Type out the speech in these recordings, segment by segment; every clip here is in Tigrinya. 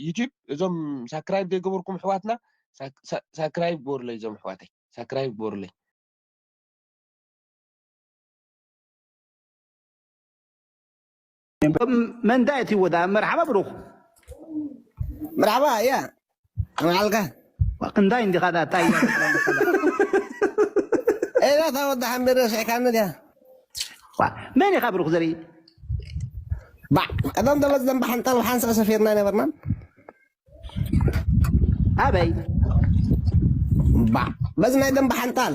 ዩቲብ እዞም ሳክራይብ ዘይገበርኩም ኣሕዋትና ሳክራይብ ግበሩለይ እዞም ኣሕዋተይ ሳክራይብ ግበሩለይ መንታ እቲ ወዳ መርሓባ ብሩኽ መርሓባ ያ እንታይ እንዲኻ ድኣ ታይ እያ ኤላ እታ ወዲ ሓምድ ረሲዕካኒ ድያ ዋእ፣ መን ኢኻ ብሩኽ ዘርኢ ባዕ ቀደም ደበዝ ደንበ ሓንጣል ብሓንሳእ ሰፊርና ኣይነበርናን ኣበይ ባዕ በዚ ናይ ደንበ ሓንጣል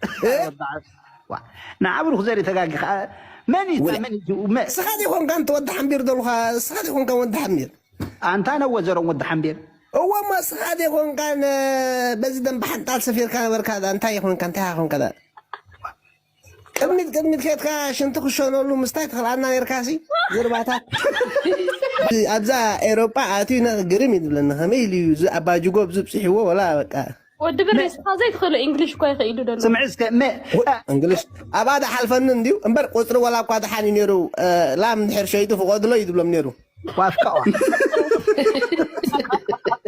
እ? ቃል ወጣ ዋ ንዓብሩኽ ዘርኢ ተጋጊ ከዓ መን እዩ ውለ መን እዩ መ እስኻ ዘይኮንካ እንተ ወዲ ሓምቢር ደልኻ እስኻ ዘይኮንካ ወዲ ሓምቢር ኣንታ ነወዘሮም ወዲ ሓምቤር እዎ እሞ እስኻ ዘይኮንካ ነ በዚ ደንበ ሓንጣል ሰፊርካ ነበርካ ዳ እንታይ ይኾንካ እንታይ ኢኻ ኮንካ ዳ ቅድሚት ቅድሚት ከትካ ሽንቲ ክሸነሉ ምስታይ ትኽልኣና ነርካሲ ዝርባታት ኣብዛ ኤሮጳ ኣትዩ ነ ግርም እዩ ዝብለኒ ከመይ ኢሉ እዩ እዚ ኣባጅጎ ብዝብፅሕዎ ወላ በቃ ወዲ ብር ንስኻ ዘይትኽእሎ ኢንግሊሽ እኳ ይኽኢሉ ደሎ ስምዒ እስከ መ እንግሊሽ ኣብኣ ድሓልፈኒ እንድዩ እምበር ቁፅሪ ዋላ እኳ ድሓን እዩ ነይሩ ላም እንድሕር ሸይጡ ፍቆድሎ እዩ ዝብሎም ነይሩ ዋፍቀዋ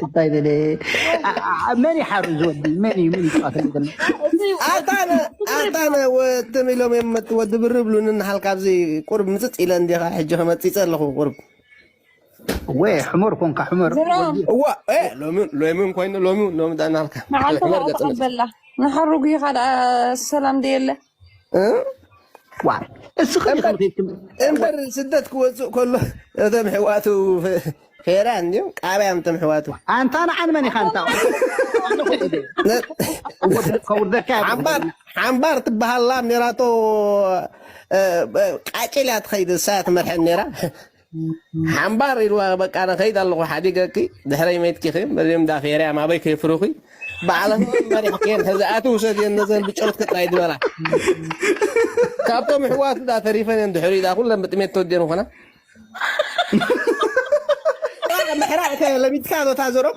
እንታይ በለ መን ይሓሩ ዝወዲ መን እዩ ምን ይጫወተሉ ዘሎ ኣታነ ኣታነ ወትም ኢሎም እዮም መት- ወዲ ብር ብሉኒ ንሓል ካብዚ ቁርብ ምፅፅ ኢለ እንዲኻ ሕጂ ከመፂፀ ኣለኹ ቁርብ ወይ ሕመር ኮንካ ሕመር እዋ ሎሚውን ኮይኑ ሎሚውን ሎሚ ዳናልካ መዓልተመር ተቐበላ ንሓሩ ጉይኻ ደኣ ሰላም ደየለ እምበር ስደት ክወፅእ ከሎ እቶም ሕዋቱ ፌራ እንዲም ቃብያም እቶም ሕዋቱ ኣንታ ንዓን መን ኢኻ እንታ ሓምባር ትበሃላ ሜራቶ ቃጭል እያ ትኸይድ እሳ ትመርሐን ኔራ ሓምባር ኢልዋ በቃ ኣነ ከይድ ኣለኹ ሓዲገኪ ድሕረይ መትኪ ኺም እዚም ዳፌርያም ኣበይ ከይፍሩኺ ባዕለን መሪሕክየን ሕዚ ኣቲ ውሰድየን ነዘን ብጨርትኪ ጥራይ ዝበላ ካብቶም ሕዋት ዳ ተሪፈን እየን ድሕሪ ዳ ኩለን ብጥሜት ተወድየን ኾና ምሕራቅ ከ ለሚድካ ዶ ታዞሮም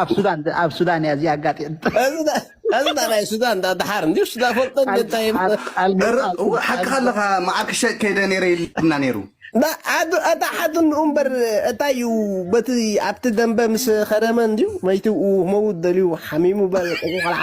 ኣብ ሱዳን ድ- ኣብ ሱዳን እያ እዚኣ ኣጋጢም ኣዝዳ ናይ ሱዳን ዳ ድሓር እንዲ ሱዳን ፈልጦ እንታይ እረ እወ ሓቅኻ ኣለኻ መዓር ክሸጥ ከይደ ነይረ ኢልና ነይሩ ዳ ኣዱ ኣታ ሓዱ እንኡ እምበር እንታይ እዩ በቲ ኣብቲ ደንበ ምስ ኸረመ እንድዩ መይትኡ መውት ደልዩ ሓሚሙ በል ቆልዓ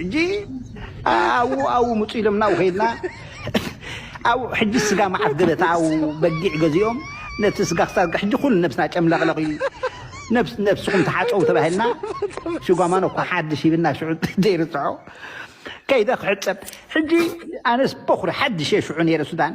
ሕጂ ኣዉ ኣዉ ምጹ ኢሎምና ኣዉ ከይድና ኣዉ ሕጂ ስጋ መዓት ገበታ ኣዉ በጊዕ ገዚኦም ነቲ ስጋ ክሳርጋ ሕጂ ኩሉ ነብስና ጨምለቕለቕ እዩ ነብስ ነብስኹም ተሓጸቡ ተባሂልና ሽጓማኖ እኳ ሓድሽ ይብልና ሽዑ ዘይርስዖ ከይደ ክሕጸብ ሕጂ ኣነስ በኹሪ ሓድሽ እየ ሽዑ ነይረ ሱዳን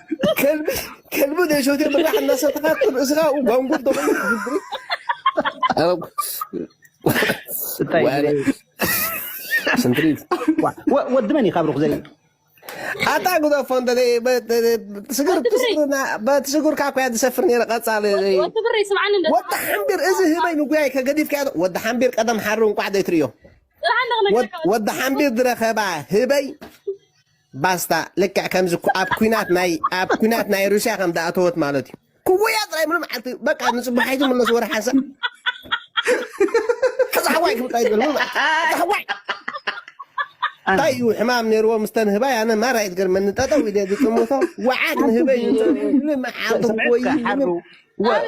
ከልቢ ከልቢ ዘይሸትዮ ብራሕ እናሰተኻ ርእስኻ ጓንጉር ተኾይኑ ዝግሪ ስንትሪት ወዲ መን እዩ ካብ ሩኽ ዘርኢ ኣታ ጉዶ ፎንደ ስግር ትስግርና በትስግርካ ኮያ ዝሰፍር ነረ ቀጻሊ ወዲ ብሪ ስምዓኒ እንደ ወዲ ሓምቢር እዚ ህበይ ንጉያይ ከገዲፍካ ወዲ ሓምቢር ቀደም ሓሪ እንቋዕ ዘይትርእዮ ጥራሕ ኣለኹ ወዲ ሓምቢር ዝረኸባ ህበይ ባስታ ልክዕ ከምዚ ኩ ኣብ ኩናት ናይ ኣብ ኩናት ናይ ሩስያ ከም ዳኣተወት ማለት እዩ ክወያ ጥራይ ምሉ መዓልቲ በቃ ንጽባሓይቲ ምለስ ወረ ሓንሳ ከዛ ሓዋይ ክብል ጥራይ ይብል ሓዋይ እንታይ እዩ ሕማም ነይርዎ ምስተን ህባይ ኣነ ማራ ይትገርመኒ ጠጠው ኢለ ዝጥምቶ ወዓግ ንህበይ ንመዓልቲ ክወይ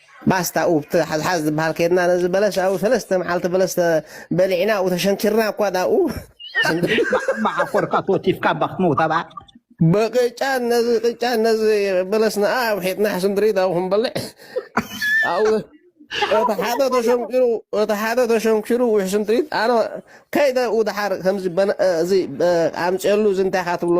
ባስታ ኡብ ትሓዝሓዝ ዝብሃል ከድና ነዚ በለስ ኣብኡ ሰለስተ መዓልቲ በለስ ተ- በሊዕና ኣብኡ ተሸንኪርና እኳ ዳኡ ማሓኮርካ ተወቲፍካ እባ ክትመውት ኣብኣ ብቅጫን ነዚ ቅጫን ነዚ በለስና ኣውሒጥና ሕሱም ድሬዳዊ ክንበልዕ ኣብኡ እቲ ሓደ ተሸንኪሩ እቲ ሓደ ተሸንኪሩ ውሕሱም ትሪት ኣነ ከይደ ኡ ድሓር ከምዚ በነ- እዚ በ- ኣምፅየሉ እዚ እንታይ ኢኻ ትብሎ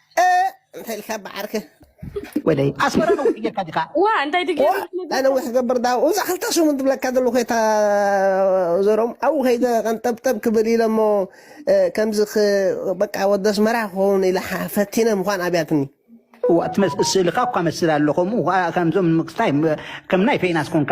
እንታይ ኢልካ ብዓርክ ወደይ ኣስመራ ነዊሕ ጌርካ ዲኻ ዋ እንታይ ድጌ ናይ ነዊሕ ክገብር ዳ እዛ ክልተ ሰሙን ትብለካ ዘለኹ የታ ዘሮም ኣብኡ ከይደ ቀንጠብጠብ ክብል ኢለ እሞ ከምዚ በቃ ወዲ ኣስመራ ክኸውን ኢለ ፈቲነ ምዃን ኣብያትኒ እዋ እቲ ስእልኻ እኳ መስል ኣሎ ከምኡ ከምዞም ንምክስታይ ከም ናይ ፌናስ ኮንካ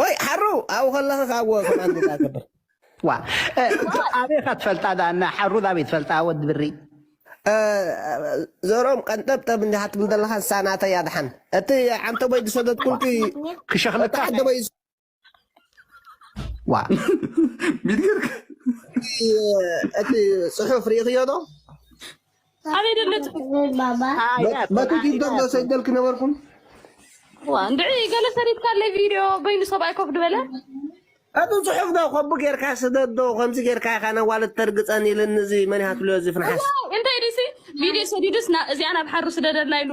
ቆይ ሓሩ ኣብኡ ከለኺ ካብዎ ከማን ዝዳ ክብር ዋ ኣበኻ ትፈልጣ ዳና ሓሩ ዳበይ ትፈልጣ ወዲ ብሪ ዘሮም ቀንጠብጠብ እንዲ ሃትም ዘለኻ ንሳ ናተይ ኣድሓን እቲ ዓንተቦይ ዝሰደድኩልኪ ክሸኽለካ ዓንተቦይ ዋ ሚድገርክ እቲ ጽሑፍ ርኢኽዮ ዶ ኣበይ ደለቲ መቱ ቲክቶክ ዘሰደልክ ነበርኩም እንድዒ ገለ ሰሪትካ ኣለይ ቪድዮ በይኑ ሰብኣይ ኮፍ ድበለ ኣቱ ፅሑፍ ዶ ኮቢ ጌርካ ስደዶ ከምዚ ጌርካ ኢኻ ነዋለት ተርግፀን ኢልን እዚ መን ይሃትሎ እዚ ፍንሓስ እንታይ ድሲ ቪድዮ ሰዲዱስ እዚኣ ናብ ሓሩ ስደደልና ኢሉ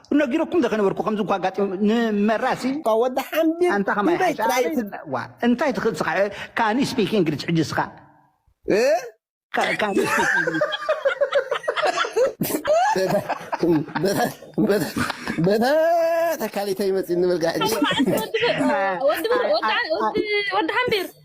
ነጊረኩም ዘከነበርኩ ከምዚ እኳ ኣጋጢሙ ንመራሲ ወዲ ሓምድ ኣንታ ከማይ ንበይ ሓሻ ጥራይ ኣበይ ን- ዋ እንታይ ትኽእል ስኻ ካን ስፒክ እንግሊሽ ሕጂ ስኻ እ? ካ- ካን ስፒክ እንግሊሽ በታ ተካሊተይ መፂ ንበልካ ሕጂ ወዲ ብር ወዲ ብር ወዲ ወዲ ወዲ ሓምቢር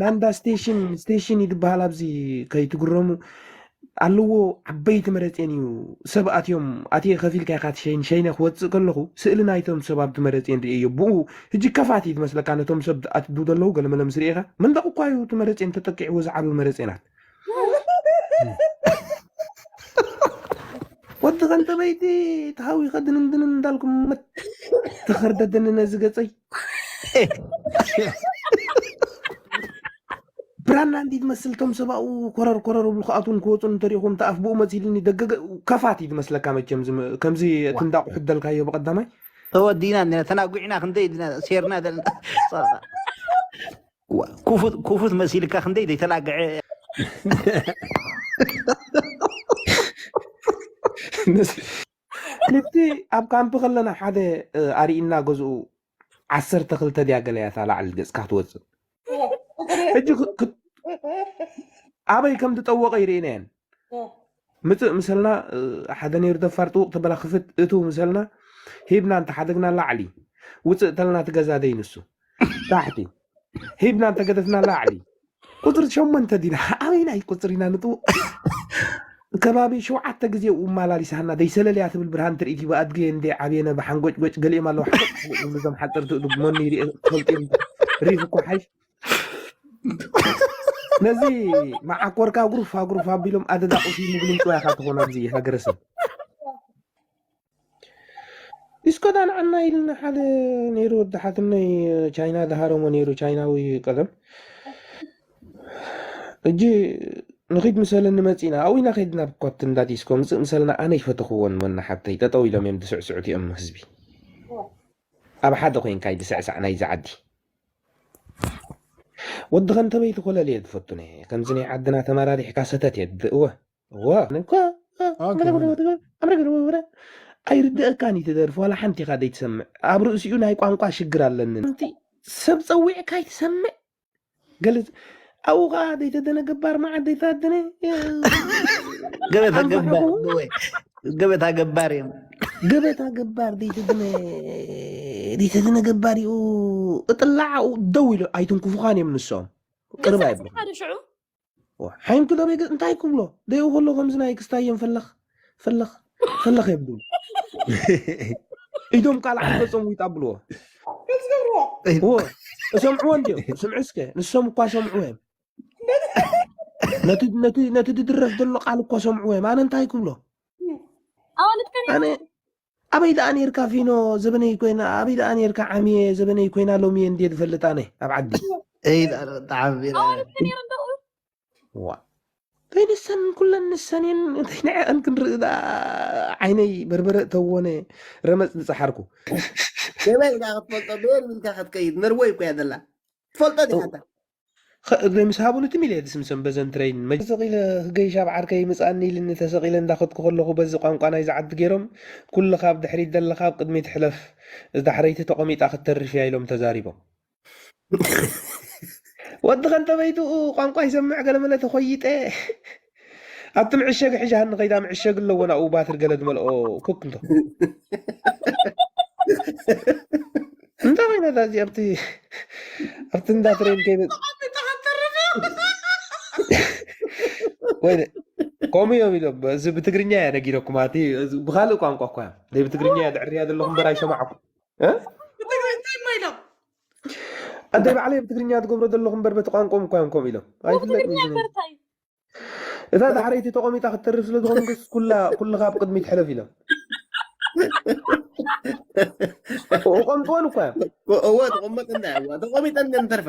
ናንዳ ስቴሽን ስቴሽን እዩ ዝበሃል ኣብዚ ከይትግረሙ ኣለዎ ዓበይቲ መረፅን እዩ ሰብ ኣትዮም ኣትየ ከፊልካ ኢካ ትሸይን ሸይነ ክወፅእ ከለኹ ስእሊ ናይቶም ሰብ ኣብቲ መረፅን ርእየዮ ብኡ ሕጂ ከፋት እዩ ዝመስለካ ነቶም ሰብ ኣትዱ ዘለዉ ገለመለ ምስ ርኢኻ መንደቕ እኳ እዩ እቲ መረፅን ተጠቂዕዎ ዝዓብብ መረፅናት ወዲ ከንተበይቲ ተሃዊኸ ድንንድንን እንዳልኩም መት ተኸርደድኒ ነዚ ገፀይ ብራና እንዲ ትመስል ቶም ሰብኡ ኮረር ኮረር ብሉ ክኣትውን ክወፁን እንተሪኢኹም ተኣፍ ብኡ መፅኢልኒ ደገገ ከፋት እዩ ዝመስለካ መቸም ዝም- ከምዚ እቲ እንዳቑ ሕደልካዮ ብቐዳማይ ተወዲና እንዲና ተናጒዕና ክንደይ እንዲና ሴርና ዘለና እዋ፣ ኩፉት ኩፉት መሲልካ ክንደይ ዘይተላግዐ ምስ- ንቲ ኣብ ካምፕ ከለና ሓደ እ፣ ኣርኢና ገዝኡ ዓሰርተ ክልተ ድያ ገለ እያ እታ ላዕሊ ገጽካ ትወፅእ ሕጂ ክ- ክ- ኣበይ ከም ዝጠወቀ ይርእና እየን ምጽእ ምሰልና ሓደ ነይሩ ደፋር ጥውቅ ተበላ ክፍት እትው ምሰልና ሂብና እንተ ሓደግና ላዕሊ ውጽእ ተልና ትገዛ ደይ ንሱ ታሕቲ ሂብና እንተ ገደፍና ላዕሊ ቁጽሪ ሸሞንተ ዲና ኣበይናይ ቁጽሪ ኢና ንጥው ከባቢ ሸውዓተ ግዜ ውማላሊሳና ደይ ሰለልያ ትብል ብርሃን ትርኢት ይባ ኣድገ እንደ ዓብየነ ብሓንጎጭጎጭ ገሊኦም ኣለዉ ሓጎጭ ዝብሉ እዞም ሓጸርቲ እዱግ መኑ ይርኤ ክፈልጥ ሪፍ እኮ ሓይሽ ነዚ መዓኮርካ ጉርፋ ጉርፋ ኣቢሎም ኣደዳ ቁሲ ምግሉም ጥዋይ ኢኻ ትኾኑ ኣብዚ ሃገረሰብ እስከዳ ንዓና ኢልና ሓደ ነይሩ ወዲ ሓትነይ ቻይና ድሃረሞ ነይሩ ቻይናዊ ቀደም እጂ ንኺድ ምሰለኒ መፂና ኣብኡ ኢና ከድና ካብቲ እንዳ ዲስኮ ምፅእ ምሰለና ኣነ ይፈተኽዎን ወና ሓብተይ ጠጠው ኢሎም እዮም ድስዕስዑት እዮም ህዝቢ ኣብ ሓደ ኮይንካ ይድስዕሳዕ ናይዚ ዓዲ ወዲ ከንተበይቲ ኮለል እየ ዝፈቱ ነ ከምዚ ናይ ዓድና ተመራሪሕካ ሰተት እየ ዝብእ እወ እወ ኣይርድኣካን እዩ ትደርፊ ዋላ ሓንቲ ኢኻ ዘይትሰምዕ ኣብ ርእሲኡ ናይ ቋንቋ ሽግር ኣለኒ ሓንቲ ሰብ ፀዊዕካ ኣይትሰምዕ ገለ ኣብኡ ከዓ ደይተደነ ገባር መዓት ደይተደነ ገበታ ገባር ወይ ገበታ ገባር እዮም ገበታ ገባር ደይተደነ ደይተደነ ገባር እዩ እጥላዕ ኣብኡ ደው ኢሎ ኣይትንክፉኻን እዮም ንሶም ቅርብ ኣይብሉ ሓደ ሽዑ ሓይም ክደበይ እንታይ ክብሎ ደይኡ ከሎ ከምዚ ናይ ክስታየን ፈለኽ ፈለኽ ፈለኽ የብሉ ኢዶም ቃል ዓፈፆም ዊጥ ኣብልዎ እሰምዕዎ እንዲኦም ስምዑ እስከ ንሶም እኳ ሰምዕዎ እዮም ነቲ ድድረፍ ዘሎ ቃል እኳ ሰምዕዎ እዮም ኣነ እንታይ ክብሎ ኣነ ኣበይ ደኣ ነርካ ፊኖ ዘበነይ ኮይና ኣበይ ደኣ ነርካ ዓሚየ ዘበነይ ኮይና ሎሚ እየ እንድየ ዝፈልጥ ኣነ ኣብ ዓዲ ዋእ እንታይ ንሰን ኩለን ንሰን እየን እንታይ ንዐኣን ክንርኢ ደኣ ዓይነይ በርበረ እተወነ ረመፅ ዝፀሓርኩ ገበይ ኢልካ ክትፈልጦ በየን ኢልካ ክትከይድ ነርወይ እኮ እያ ዘላ ትፈልጦ ዲኻ እታ ኸ- እግሪ ምስ ሃቡኒ ትም ኢለ ድስምሶም በዘን ትረይን መ- ተሰቂለ ክገይሽ ኣብ ዓርከይ ምፅኣኒ ኢልኒ ተሰቂለ እንዳኸድኩ ከለኹ በዚ ቋንቋ ናይዚ ዓዲ ገይሮም ኩልኻ ኣብ ድሕሪት ዘለኻ ኣብ ቅድሚት ሕለፍ እዛ ዳሕረይቲ ተቖሚጣ ክትተርፍ እያ ኢሎም ተዛሪቦም ወዲ ከንተበይትኡ ቋንቋ ይሰምዕ ገለመለ ተኾይጠ ኣብቲ ምዕሸጊ ሕዣሃኒ ከይዳ ምዕሸጊ ኣለዎ ናብኡ ባትሪ ገለ ዝመልኦ ኩክ እንቶ እንታይ ኮይና እዛ እዚ ኣብቲ ኣብቲ እንዳ ትሬን ከይነ ወይ ከምኡ እዮም ኢሎም እዚ ብትግርኛ እያ ነጊረኩም ኣቲ ብካልእ ቋንቋ እኳ እዮም ብትግርኛ እያ ድዕርያ ዘለኹ እምበር ኣይሰማዕኩም ብትግራይ እንታይ እማ ኢሎም ኣደ ባዕለይ ብትግርኛ ትገብሮ ዘለኹ እምበር በቲ ቋንቋም እኳ እዮም ከምኡ ኢሎም ኣይፍለጥን ብትግርኛ እዩ ዝብል። እምበር እንታይ እታ ዳሕረይቲ ተቐሚጣ ክትተርፍ ስለ ዝኾንክስ ኩላ ኩልኻ ኣብ ቅድሚት ሕለፍ ኢሎም ቆምጥወን እኳ እዮም እወ ተቆመጥ እንዳ እወ ተቆሚጠን ግን ተርፋ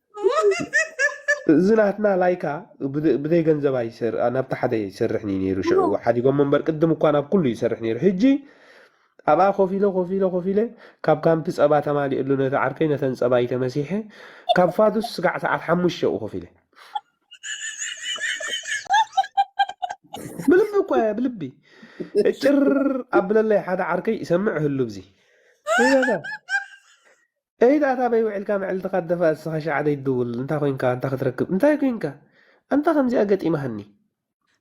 እዚ ናትና ላይካ ብዘ- ብዘይ ገንዘብ ኣይሰር ናብቲ ሓደ ይሰርሕን እዩ ነይሩ ሽዑ ሓዲጎሞ እምበር ቅድም እኳ ናብ ኩሉ ይሰርሕ ነይሩ ሕጂ ኣብኣ ኮፍ ኢለ ኮፍ ኢለ ኮፍ ኢለ ካብ ካምፒ ፀባ ተማሊእሉ ነቲ ዓርከይ ነተን ፀባይ ተመሲሐ ካብ ፋዱስ ስጋዕ ሰዓት ሓሙሽተ ኣብኡ ኮፍ ኢለ ብልቢ እኳ እየ ብልቢ እጭር ኣብለለይ ሓደ ዓርከይ ይሰምዕ ህሉ ብዚ ይበዛ ኤይ ዳኣ ኣበይ ውዒልካ መዕልትካ ትደፋእ እስኻ ሽዓ ዘይትድውል እንታይ ኮይንካ ኣንታ ክትረክብ እንታይ ኮይንካ ኣንታ ከምዚኣ ገጢማኒ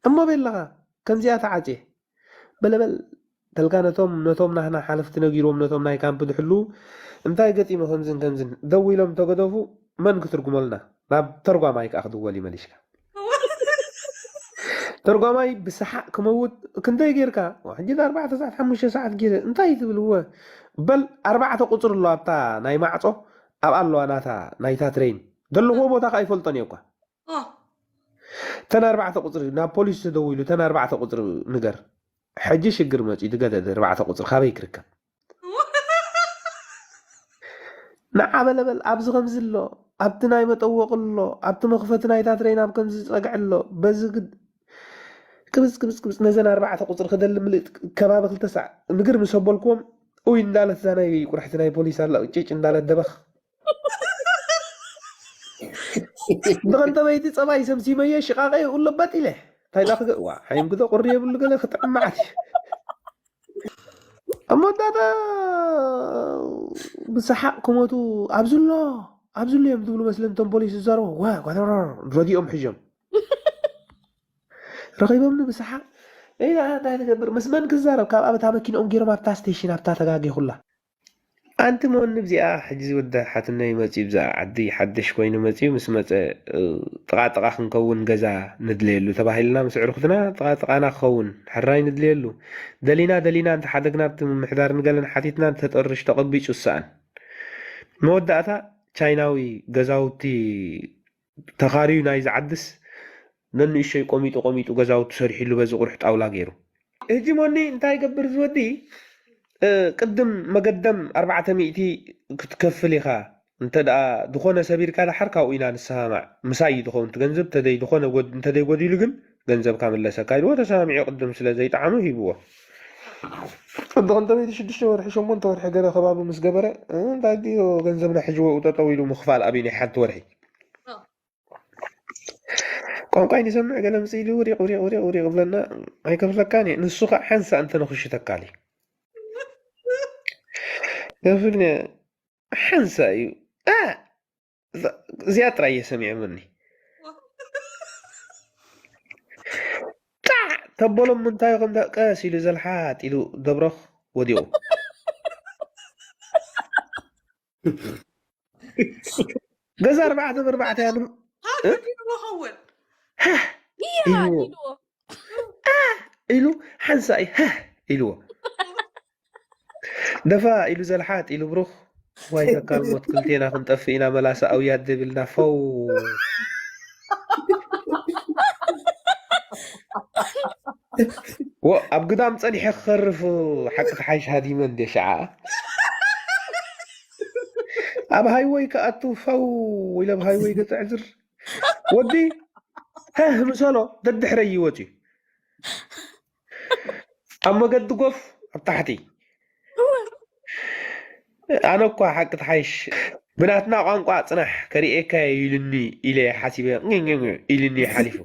እሞ ቤለኻ ከምዚኣ ተዓጽየ በለ በል ተልካ ነቶም ነቶም ናህና ሓለፍቲ ነጊርዎም ነቶም ናይ ካምፕ ዝሕልዉ እንታይ ገጢሙ ከምዝን ከምዝን ደዊሎም እንተገደፉ መን ክትርጉመልና ናብ ተርጓማይ ከኣ ክድወል እዩ መሊሽካ። ተርጓማይ ብሰሓቅ ክመውት ክንደይ ጌርካ ሕጂ ኣርባዕተ ሰዓት ሓሙሽተ ሰዓት ጌረ እንታይ ትብል እወ በል ኣርባዕተ ቁጽሪ ኣሎ ኣብታ ናይ ማዕጾ ኣብኣ ኣለዋ ናታ ናይታ ትሬን ዘለኹዎ ቦታ ከኣ ይፈልጦን እየ እኳ ኦ ተን ኣርባዕተ ቁጽሪ ናብ ፖሊስ ተደዊሉ ተን ኣርባዕተ ቁጽሪ ንገር ሕጂ ሽግር መጽዩ ድገደደ ኣርባዕተ ቁጽሪ ካበይ ክርከብ ንዓ በለ በል ኣብዚ ከምዚ ኣሎ ኣብቲ ናይ መጠወቒ ኣሎ ኣብቲ መኽፈቲ ናይታ ትረይን ኣብ ከምዚ ዝጸግዒ ኣሎ በዚ ግድ ቅብጽ ቅብጽ ቅብጽ ነዘን ኣርባዕተ ቁጽሪ ክደሊ ምልእት ከባቢ ክልተ ሳዕ ምግር ምስ ኣበልክዎም ኡይ እንዳለት እዛ ናይ ቁርሕቲ ናይ ፖሊስ ኣላ ቂጭጭ እንዳለት ደበኽ ብኸንተበይቲ ፀባይ ሰምሲመዮ ሽቓቐ ይብሉ በጥ ኢለ እንታይ ዳ ክገ- ዋ ዓይም ግደ ቁሪ የብሉ ገለ ክጥዕም መዓት እዩ ኣብ መወዳእታ ብሰሓቕ ክሞቱ ኣብዚ ኣሎ ኣብዚ ኣሎ እዮም ዝብሉ መስለን እቶም ፖሊስ ዝዛረቡ ወ ጓተረር ረጊኦም ሕዥም ረኺቦምኒ ብሰሓቕ እይ ዳኣ እንታይ ትገብር ምስ መን ክዛረብ ካብ ኣብታ መኪንኦም ገይሮም ኣብታ ስቴሽን ኣብታ ተጋጊኹላ ኣንቲ መወኒ ብዚኣ ሕጂ ዝውዳ ሓትኖይ መጽዩ ብዛኣ ዓዲ ሓደሽ ኮይኑ መጽዩ ምስ መጸ ጥቓ ጥቓ ክንከውን ገዛ ንድለየሉ ተባሂልና ምስ ኣዕሩኹትና ጥቓ ጥቓና ክኸውን ሕራይ ንድለየሉ ደሊና ደሊና እንተ ሓደግና ኣብቲ ምምሕዳር ንገለን ሓቲትና ተጠርሽ ተቐቢጹ ዝሳኣን መወዳእታ ቻይናዊ ገዛውቲ ተኻርዩ ናይዚ ዓድስ ነንእሾይ ቆሚጡ ቆሚጡ ገዛውቱ ሰሪሒሉ በዚ ቁርሕ ጣውላ ገይሩ። ህጂ ሞኒ እንታይ ይገብር እዚ ወዲ ቅድም መገደም ኣርባዕተ ሚእቲ ክትከፍል ኢኻ እንተ ድኾነ ሰቢርካ ድሓር ካብኡ ኢና ንሰማማዕ ምሳይ እዩ ድኸውን እቲ ገንዘብ ተደይ ድኾነ እንተደይ ጎዲሉ ግን ገንዘብካ ምለሰካ ኢልዎ ተሰማሚዑ ቅድም ስለ ዘይጠዓሞ ሂብዎ ቅዲ ክንደበይቲ ሽዱሽተ ወርሒ ሸሞንተ ወርሒ ገለ ከባቢ ምስ ገበረ እንታይ ድዮ ገንዘብና ሕጂ ወኡ ጠጠው ኢሉ ምኽፋል ኣብይ ናይ ሓንቲ ወርሒ ቋንቋይ ንሰምዕ ገለ ምስ ኢሉ ውሪቕ ውሪቕ ውሪቕ ውሪቕ ብለና ኣይከፍለካን እየ ንሱ ከዓ ሓንሳ እንተ ንኽሽተካ ኢሉ ከፍል ሓንሳ እዩ እዛ- እዚኣ ጥራይ እየ ሰሚዖምኒ ጣዕ ተበሎም ምንታዩ ከምታ ቀስ ኢሉ ዘልሓጥ ኢሉ ገብሮኽ ወዲቑ ገዛ ኣርባዕተ ብኣርባዕተ እያ ን- ሃገዲዎ ኸውን እያ ኢልዎ ኢልዎ ኢሉ ሓንሳእ ሃህ ኢልዎ ደፋእ ኢሉ ዘልሓጥ ኢሉ ብሩኽ ዋይ ተካል ሞት ክልቴና ክንጠፍእ ኢና መላሰ ኣውያት ዘይብልና ፈው ወ ኣብ ግዳም ጸኒሐ ክኸርፍ ሓቂ ተሓይሽ ሃዲመ እንደ ሸዓ ኣብ ሃይወይ ክኣቱ ፈው ኢለ ኣብ ሃይወይ ገጽ ዕዝር ወዲ ህህ ምሰሎ ደድሕረይ ይወጽ እዩ ኣብ መገዲ ጎፍ ኣብ ታሕቲ እወ ኣነ እኳ ሓቂ ትሓይሽ ብናትና ቋንቋ ጽናሕ ከርእየካ እየ ኢሉኒ ኢለ ሓሲበ ኝኝኝ ኢሉኒ ሓሊፉ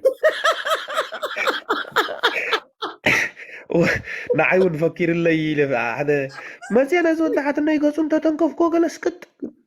ንዓይ እውን ፈኪርለይ ኢለ ሓደ መፅየ ነዚ ወዲ ሓትነይ ገፁ እንተተንከፍኩዎ ገለ ስቅጥ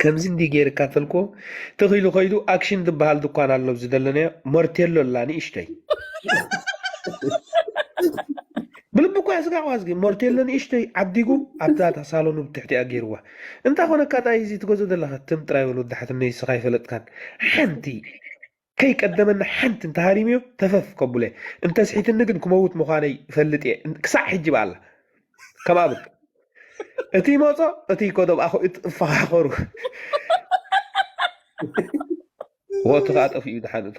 ከምዚ እንዲህ ገይርካ ተልኮ ተኺሉ ከይዱ ኣክሽን ዝበሃል ድኳን ኣሎ ኣብዚ ዘለናዮ ሞርቴሎ ኣላ ንእሽተይ ብልቢ እኳ ያስጋዕዋ ዝጊ ሞርቴሎ ንእሽተይ ዓዲጉ ኣብዛታ ሳሎኑ ብትሕቲኣ ገይርዋ እንታይ ኮነካ ጣይ እዚ ትገዝኦ ዘለካ ትም ጥራይ በል ወዲ ሓትነይ እስኻ ኣይፈለጥካን ሓንቲ ከይቀደመኒ ሓንቲ እንተ ሃሪመዮ ተፈፍ ከብሎ'የ፣ እንተ ስሒትኒ ግን ክመውት ምዃነይ እፈልጥ'የ፣ ክሳዕ ሕጂ ብኣላ ከም ኣብት እቲ ይመጾ እቲ ይከዶ ብኣኹ እትፋኻኸሩ፣ ወእቱ ከኣ ጠፊኡ ደሓን እቶ።